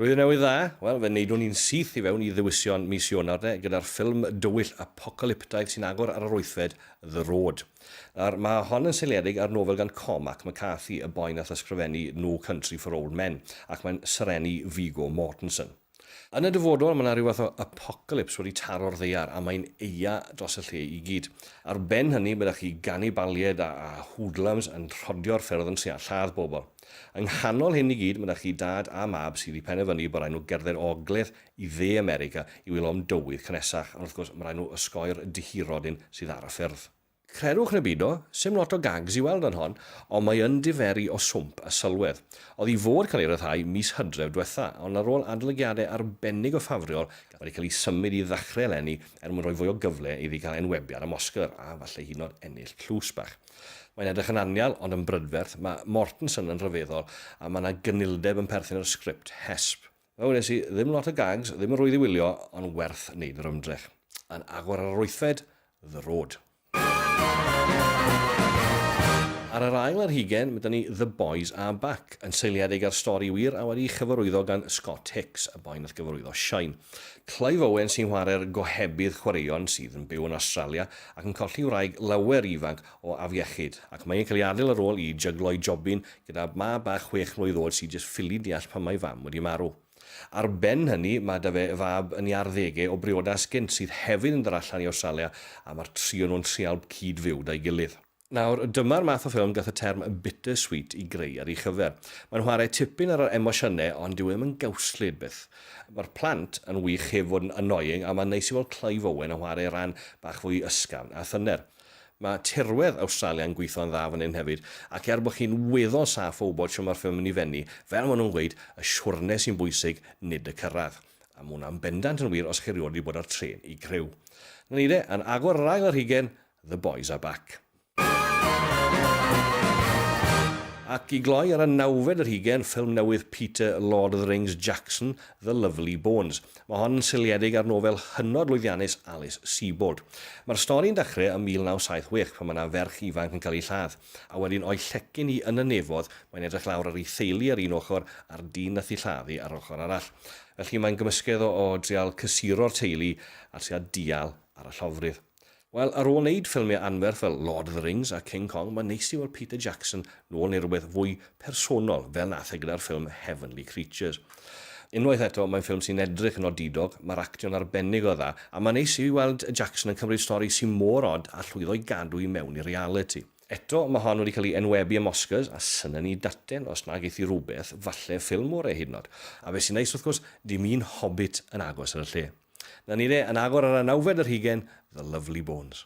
Blwyddyn Newydd Dda! Wel, fe wneudwn i'n syth i fewn i ddewision mis Ionawr de, gyda'r ffilm dywyll apocalyptaidd sy'n agor ar yr wythfed, The Road. Nawr, mae hon yn seiliedig ar nofel gan Cormac McCarthy, y boi nath ysgrifennu No Country for Old Men, ac mae'n serennu Viggo Mortensen. Yn y dyfodol, mae 'na ryw fath o apocalypse wedi taro'r ddaear, a mae'n eia dros y lle i gyd. Ar ben hynny, mae 'da chi ganibaliaid a a hoodlums yn rhodio'r ffyrdd yn sia lladd pobl. Yng nghanol hyn i gyd, mae 'da chi dad a mab sydd wedi penderfynu bod rhaid nhw gerdded o ogledd i dde America i wylio am dywydd cynnesach, ond wrth gwrs, mae rhaid nhw osgoi'r dihirodyn sydd ar y ffyrdd. Credwch neu beidio, 'sdim lot o gags i weld yn hon, ond mae yn diferu o swmp a sylwedd. Oedd i fod cael ei ryddhau mis Hydref dwetha, ond ar ôl adolygiadau arbennig o ffafriol, wedi cael ei symud i ddechrau eleni er mwyn rhoi fwy o gyfle iddi gael enwebiad am Oscar a falle hyd yn oed ennill tlws bach. Mae'n edrych yn anial, ond yn brydferth, mae Mortenson yn rhyfeddol a mae 'na gynildeb yn perthyn i'r sgript, hesp. Wel wnes i ddim lot o gags, ddim yn rhwydd i wylio, ond werth wneud yr ymdrech. Yn agor ar yr wythfed, The Road. Ar yr ail ar hugen, mae 'da ni The Boys Are Back, yn seiliedig ar stori wir a wedi'i chyfarwyddo gan Scott Hicks, y boi nath gyfarwyddo Shine. Clive Owen sy'n chwarae'r gohebydd chwaraeon sydd yn byw yn Awstralia ac yn colli wraig lawer ifanc o afiechyd, ac mae e'n cael ei adael ar ôl i jyglo'i jobyn gyda mab bach chwech mlwydd oed sy'n jyst ffili deall pam mae ei fam wedi marw. Ar ben hynny, mae 'da fe fab yn ei arddegau o briodas gynt sydd hefyd yn dod allan i Awstralia a mae'r tri o nhw'n trial cyd-fyw 'da'i gilydd. Nawr, dyma'r math o ffilm gath y term 'bitter sweet' i greu ar ei chyfer. Mae'n chwarae tipyn ar yr emosiynau ond dyw e ddim yn gawslyd byth. Mae'r plant yn wych heb fod yn 'annoying' a mae'n neis i weld Clive Owen yn chwarae rhan bach fwy ysgafn a thyner. Mae tirwedd Awstralia'n gweithio'n dda fan hyn hefyd, ac er bod chi'n weddol saff o wybod shwt mae'r ffilm yn mynd i fennu, fel maen nhw'n gweud, y siwrne sy'n bwysig, nid y cyrraedd. A mae hwnna'n bendant yn wir os chi erioed wedi bod ar trên i griw. 'Na ni de, yn agor ar ail yr hugen, The Boys Are Back. Ac i gloi ar y nawfed yr hugen, ffilm newydd Peter Lord of the Rings Jackson, The Lovely Bones. Mae hon yn seiliedig ar nofel hynod lwyddiannus Alice Sebold. Mae'r stori'n dechreu ym 1976 pan mae yna ferch ifanc yn cael ei lladd, a wedyn o'i llecyn hi yn y nefoedd mae'n edrych lawr ar ei theulu ar un ochr a'r dyn nath i lladd hi ar yr ochr arall. Felly mae'n gymysgedd o o drial cysuro'r teulu a trial dial ar y llofrudd. Wel, ar ôl neud ffilmiau anferth fel Lord of the Rings a King Kong, mae'n neis i weld Peter Jackson nôl neu rywbeth fwy personol fel nath e gyda'r ffilm Heavenly Creatures. Unwaith eto, mae'n ffilm sy'n edrych yn odidog, mae'r actio'n arbennig o dda, a mae'n neis i weld Jackson yn cymryd stori sy mor od a llwyddo i gadw i mewn i realiti. Eto, mae hon wedi cael ei enwebu am Oscars, a syna ni daten os na geith hi rywbeth, falle ffilm orau hyd yn od. A be sy'n neis wrth gwrs, dim un Hobbit yn agos ar y lle. Na ni de, yn agor ar y nawfed ar hugain, The Lovely Bones.